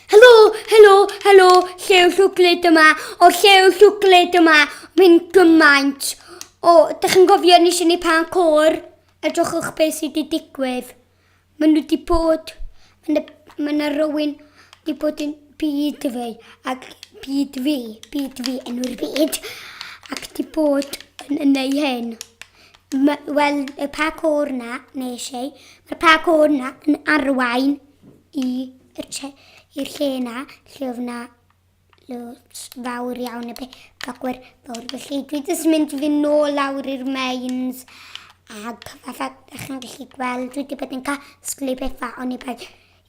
Helo, helo, helo, llew llwglyd yma, o llew llwglyd yma, mynd gymaint. O, da chi'n gofio ni sy'n ei pan cor? Edrychwch beth sydd wedi digwydd. Mae nhw wedi bod, mae yna rywun wedi bod yn byd fi, ac byd fi, byd fi, enw'r byd, ac wedi bod yn, yn ei hyn. Wel, y pa cor na, nes ei, mae'r pa cor na yn arwain i'r lle yna lle oedd yna loads fawr iawn y bagwyr fawr. Felly dwi jyst mynd fy nôl lawr i'r mains ac fatha ydych chi'n gallu gweld dwi wedi bod yn casglu pethau ond i bai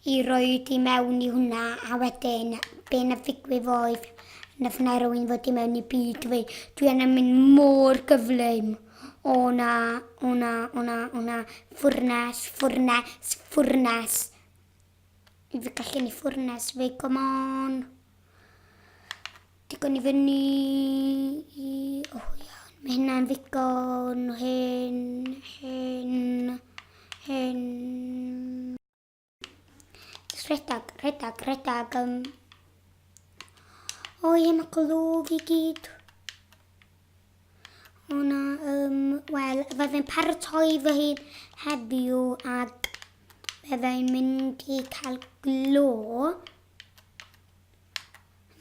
i roi di mewn i hwnna a wedyn be na figwydd oedd na ffynau rwy'n fod i mewn i byd dwi, dwi yn mynd mor gyflym. O na, o na, o na, o na, ffwrnes, ffwrnes, ffwrnes. Fi fy gallu ni ffwrnes fi, come on. Digon i fyny. O iawn, mae hynna'n ddigon. Hyn, hyn, hyn. Rhedag, rhedag, rhedag. Um. O ie, mae glwg i gyd. O na, um, wel, fe fe'n paratoi fy hun heddiw ac fe fe'n mynd i cael glo.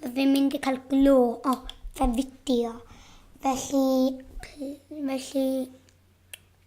Fe fe'n mynd i cael glo o fe fideo. Felly, felly,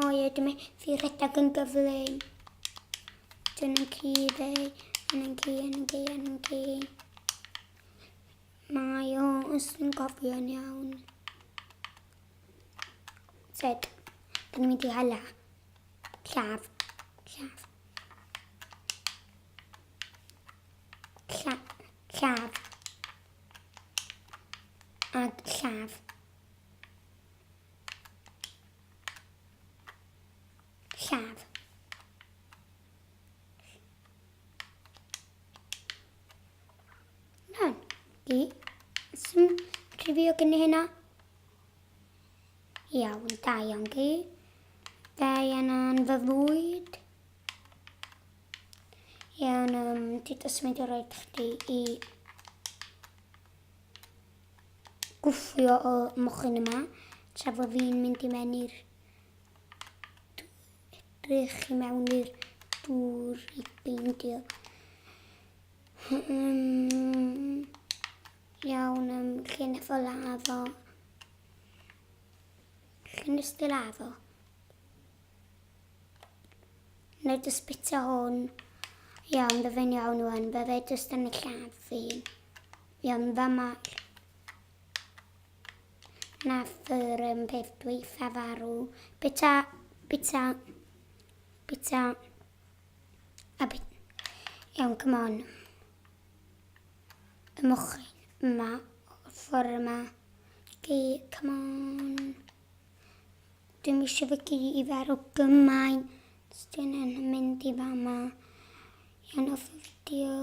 O ie, dwi'n mynd i rhedeg yn gyflym. Dwi'n yn ci fe, yn yn ci, yn yn ci, yn yn ci. Mae o os dwi'n gofio'n iawn. Sed, dwi'n mynd i hala. Llaf, llaf. Llaf, llaf. Ag llaf. Lladd. Lan. Di. Sy'n rhywio gen i hynna. Iawn, da iawn di. Da iawn yn fy fwyd. Iawn, um, ti dy symud o roed chdi i gwffio y mochyn yma tra fo fi'n mynd i mewn i'r edrych i mewn i'r dŵr i beindio. Um, iawn, um, chi'n efo lafo. Chi'n ysdi lafo. Neu dy sbitio hwn. Iawn, fe fe'n iawn wan, fe fe jyst yn y llaf fi. Iawn fy Mal. Nath yr un peth dweutha farw. Bita, bita, bita, a bit. Iawn, come on. Y mochyn yma, o'r ffordd yma. Chi, come on. Dwi'n eisiau fy gi i farw gymaint. Dwi'n yn mynd i fama. Iawn, off y fideo.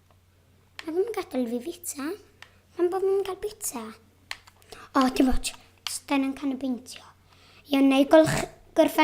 A ddim yn gadael fi fita. Pam bod fi'n cael bita? O, ti'n watch. Stan yn can y beintio. Iawn, na i golch gorffen